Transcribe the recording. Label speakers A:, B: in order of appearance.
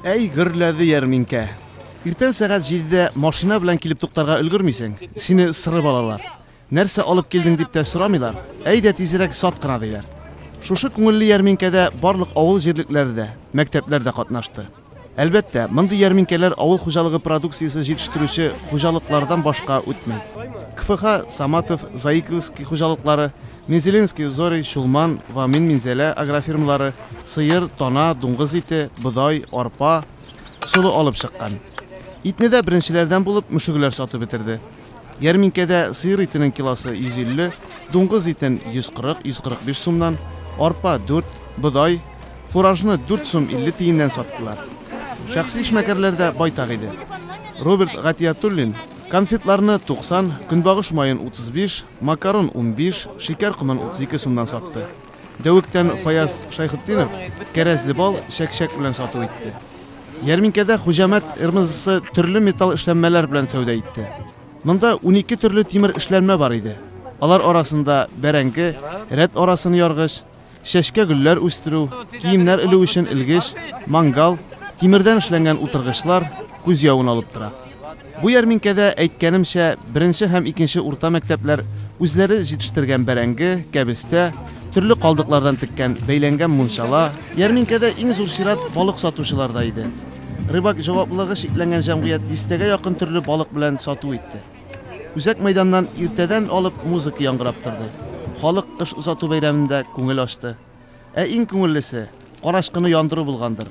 A: Әй, гөрләде ярминкә. Иртән сәгать җидедә машина белән килеп туктарга өлгермисең, сине сырып алалар. Нәрсә алып килдең дип тә сорамыйлар, әйдә тизрәк сат кына диләр. Шушы күңелле ярминкәдә барлык авыл җирлекләре дә, мәктәпләр дә катнашты. Әлбәттә, мондый ярминкәләр авыл хуҗалыгы продукциясе җитештерүче хуҗалыклардан башка үтми. КФХ, Саматов, Заиковский хуҗалыклары, Мензелинский, Зори, Чулман, Вамин, Минзәлә агрофирмалары сыер, тана, дуңгыз ите, бодай, арпа, солы алып чыккан. Итне дә беренчеләрдән булып мөшегеләр сатып бетерде. Ярминкәдә сыер итенең килосы 150, дуңгыз итен 140-145 сумнан, арпа 4, бодай, фуражны 4 сум 50 тиеннән саттылар. Шәхси эшмәкәрләр дә байтак иде. Роберт Гатиятуллин конфетларны 90, көнбагыш маен 35, Макарон унбиш, шикәр комын утыз ике сумнан сатты. Дәвектән Фаяз Шайхутдинов кәрәзле бал чәк-чәк белән сату итте. Ярминкәдә Хуҗамәт РМЗСы төрле металл эшләнмәләр белән сәүдә итте. Монда унике төрле тимер эшләнмә бар иде. Алар арасында бәрәңге, рәт арасын яргыч, Чәчкә гөлләр үстерү, киемнәр элү өчен элгеч, мангал, тимердән эшләнгән утыргычлар күз явын алып тора. Бу ярминкәдә, әйткәнемчә, беренче һәм икенче урта мәктәпләр үзләре җитештергән бәрәңге, кәбестә, төрле калдыклардан теккән, бәйләнгән мунчала, Ярминкәдә иң зур чират балык сатучыларда иде. Рыбак җаваплылыгы чикләнгән җәмгыять дистәгә якын төрле балык белән сату итте. Үзәк мәйданнан иртәдән алып музыка яңгырап торды. Халык кыш озату бәйрәмендә күңел ачты. Ә иң күңеллесе, карачкыны яндыру булгандыр.